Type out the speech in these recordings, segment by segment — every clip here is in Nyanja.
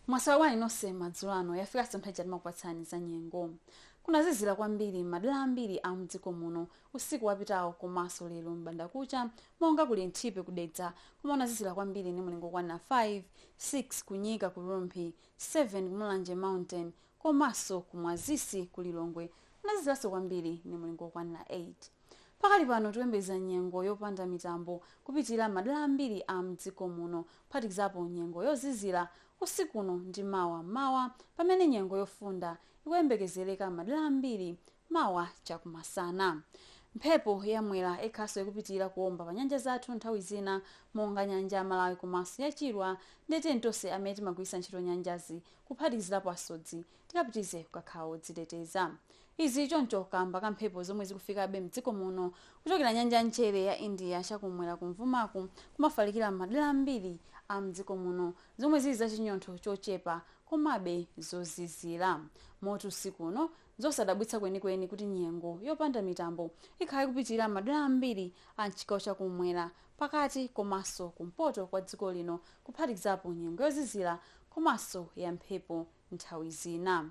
mwaswera bwanji nonse madzulo ano yafika tsono nthawi ija timakupatsani za nyengo kunazizira kwambiri madera ambiri a mdziko muno usiku wapitawo komanso lero m'bandakucha monga ku linthipe kudedza komwe kunazizira kwambiri ndi mulingo okwana 5 6 kunyika ku rumphi 7 ku mulanje mountain komaso ku mwazisi ku lilongwe kunaziziraso kwambiri ni mulingo okwanila 8 pakali pano tikuyembekeza nyengo yopanda mitambo kupitilila mmadela ambiri a mdziko muno kuphatikizapo nyengo yozizila usiku uno ndi mawa mmawa pamene nyengo yofunda ikuyembekezeleka mmadela ambiri Mawa chakumasana. Mphepo ya Mwera ikhalaso ikupitilira kuomba pa nyanja zathu nthawi zina monga nyanja ya Malawi komaso ya Chilwa nde tiyeni tonse amene timagwiritsa ntchito nyanjazi kuphatikizirapo asodzi tikapitirize kukakhala odziteteza. Izi zili choncho kaamba ka mphepo zomwe zikufikabe mdziko muno kuchokera nyanja ya mchere ya India chakumwera kumvuma kumafalikira mmadera ambiri a mdziko muno zomwe zili za chinyontho chochepa komabe zozizira moti usiku uno Nzosadabwitsa kwenikweni kuti nyengo yopanda mitambo ikhala ikupitirira m'madera ambiri a m'chigawo cha kummwera, pakati komanso kumpoto kwa dziko lino kuphatikizapo nyengo yozizira komanso ya mphepo nthawi zina.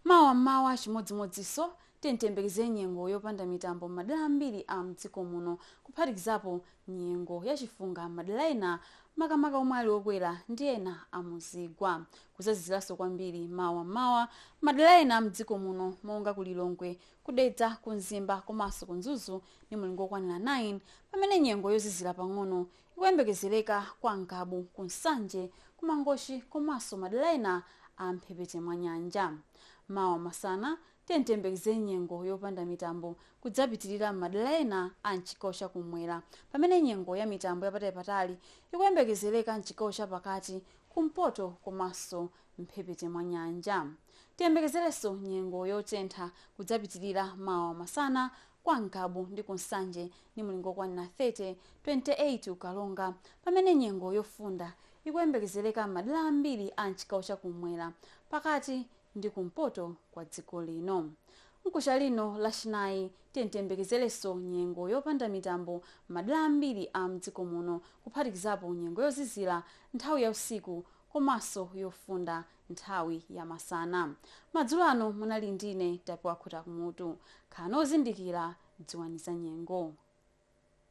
Mawa m'mawa chimodzimodzinso, tiyeni tiyembekezere nyengo yopanda mitambo m'madera ambiri a m'dziko muno kuphatikizapo nyengo ya chifunga m'madera ena makamaka omwe ali okwera ndi ena a mu zigwa. Kudzaziziranso kwambiri mawa m'mawa m'madera ena a m'dziko muno monga ku Lilongwe, ku Dedza, ku Mzimba komanso ku Mzuzu ndi mulingo wokwanira 9 pamene nyengo yozizira pang'ono ikuyembekezereka kwa Ngabu, ku Nsanje, ku Mangochi komanso madera ena a m'mphepete mwa nyanja. Mawa masana, tiyeni tiyembekezere nyengo yopanda mitambo kudzapitilira m'madera ena a m'chigawo cha kummwera pamene nyengo ya mitambo yapatalipatali ikuyembekezereka m'chigawo cha pakati, kumpoto komanso m'mphepete mwa nyanja. Tiyembekezerenso nyengo yotentha kudzapitilira mawa masana kwa Ngabu ndi ku Nsanje ndi mulingo wokwanira 30, 28 ku Karonga pamene nyengo yofunda ikuyembekezereka m'madera ambiri a m'chigawo cha kummwera, pakati ndi kumpoto kwa dziko lino. Mkuja uno lachinayi tiyeni tiyembekezerenso nyengo yopanda mitambo m'madera ambiri a mdziko muno kuphatikizapo nyengo yozizira nthawi ya usiku komanso yofunda nthawi ya masana. Madzulo ano munali ndine Tapiwa Khutakumutu. Khalani ozindikira, dziwani za nyengo.